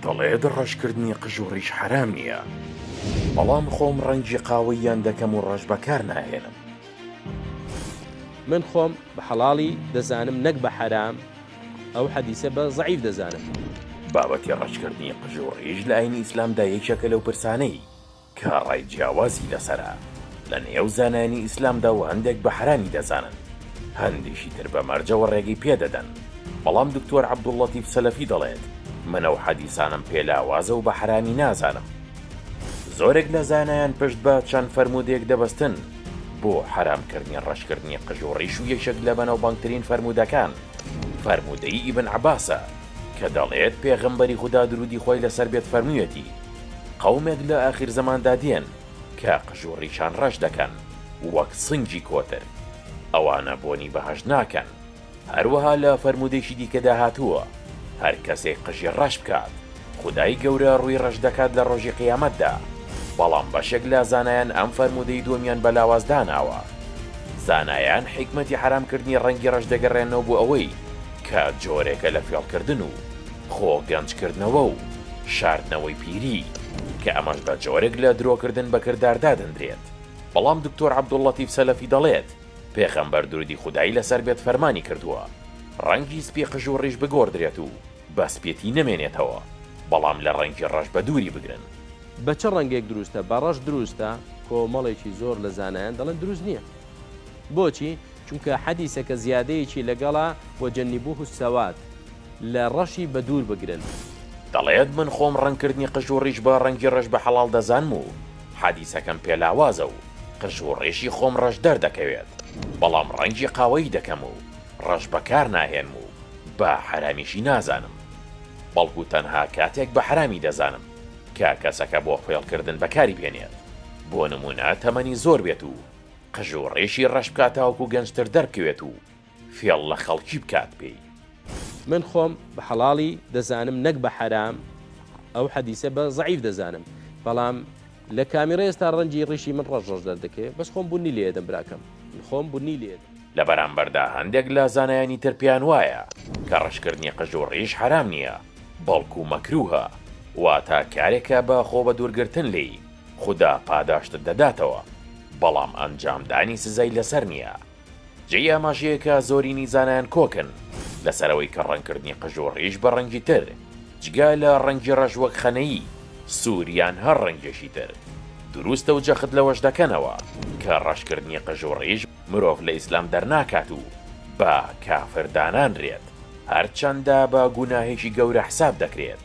دەڵێت ڕەشکردنی قژ و ڕیش حەرام نییە، بەڵام خۆم ڕەنگی قاوەییان دەکەم و ڕەش بەکارناهێنم. من خۆم بە حەڵاڵی دەزانم نەک بە حەرام، ئەو حەدیسە بە زەعیف دەزانم. بابەتی ڕەشکردنی قژ و ڕیش لە ئاینی ئیسلامدا یەکێکە لەو پرسانەی کە ڕای جیاوازی لەسەرە لە نێو زانایانی ئیسلامدا و هەندێک بە حەرامی دەزانن هەندێکی تر بە مەرجەوە ڕێگەی پێ دەدەن بەڵام دکتۆر عەبدوللەتیف سەلەفی دەڵێت من ئەو حەدیسانەم پێ لاوازە و بە حەرامی نازانم. زۆرێک لە زانایان پشت بە چەند فەرموودەیەک دەبەستن بۆ حەرام کردنی ڕەشکردنی قژ و ڕیش و یەکێک لە بەناوبانگترین فەرموودەکان فەرموودەی ئیبن عەباسە کە دەڵێت پێغەمبەری خودا درودی خوای لەسەر بێت فەرموویەتی، قەومێک لە ئاخیر زەماندا دێن کە قژ و ڕیشان ڕەش دەکەن وەک سنگی کۆتر. ئەوانە بۆنی بەهەشت ناکەن. هەروەها لە فەرموودەیەکی دیکەدا هاتووە، هەر کەسێک قژی ڕەش بکات، خودای گەورە ڕووی ڕەش دەکات لە ڕۆژی قیامەتدا، بەڵام بەشێک لە زانایان ئەم فەرموودەی دووەمیان بە لاواز داناوە. زانایان حیکمەتی حەرامکردنی ڕەنگی ڕەش دەگەڕێننەوە بۆ ئەوەی کە جۆرێکە لە فێڵکردن و. خۆ گەنج کردنەوە و شاردنەوەی پیری کە ئەمەش بە جۆرێک لە درۆ کردن بە کردار دادەندرێت بەڵام دکتۆر عبدول لەتیف سەلەفی دەڵێت پێخەمبەر درودی خودایی لەسەر بێت فەرمانی کردووە ڕەنگی سپی قژ و ڕیش بگۆڕدرێت و بە سپێتی نەمێنێتەوە بەڵام لە ڕەنگی ڕەش بە دووری بگرن. بە چ ڕەنگێک دروستە؟ بە ڕەش دروستە؟ کۆمەڵێکی زۆر لە زانایان دەڵێن دروست نییە. بۆچی؟ چونکە حەدیسە کە زیادەیەکی لەگەڵە، وجنبوه السواد، لە ڕەشی بە دوور بگرن. دەڵێت، من خۆم ڕەنگکردنی قژ و ڕیش بە ڕەنگی ڕەش بە حەڵاڵ دەزانم و حەدیسەکەم پێ لاوازە و قژ و ڕیشی خۆم ڕەش دەردەکەوێت، بەڵام ڕەنگی قاوەیی دەکەم و ڕەش بەکار ناهێنم و بە حەرامیشی نازانم، بەڵکو تەنها کاتێک بە حەرامی دەزانم کە کەسەکە بۆ فێڵکردن بەکاری بهێنێت، بۆ نموونە تەمەنی زۆر بێت و. قژ و ڕیشی ڕەش بکا تاوەکو گەنجتر دەربکەوێت و فێڵ لە خەڵکی بکات پێی. من خۆم بە حەڵاڵی دەزانم نەک بە حەرام ئەو حەدیسە بە زەعیف دەزانم بەڵام لە کامیڕە ئێستا ڕەنجی ڕیشی من ڕەش ڕەش دەردەکەوێت بەس خۆم بونی لێدەم براکەم من خۆم بونی لێدەم. لە بەرامبەردا هەندێک لە زانایانی تر پێیان وایە کە ڕەشکردنی قژ و ڕیش حەرام نییە بەڵکو مەکروهە واتا کارێکە بە خۆبەدوورگرتن لێی خودا پاداشتت دەداتەوە بەڵام ئەنجام دانی سزای لەسەر نیە جێی ئاماژەیە کە زۆرینی زانایان کۆکن لەسەر ئەوەی کە ڕەنگکردنی قژ و ڕیش بە ڕەنگی تر جگە لە ڕەنگی ڕەش وەک خەنەیی سوور یان هەر ڕەنگێکی تر دروستە و جەخت لەوەش دەکەنەوە کە ڕەشکردنی قژ و ڕیش مرۆڤ لە ئیسلام دەرناکات و بە کافر دانانرێت هەرچەندە بە گوناهێکی گەورە حساب دەکرێت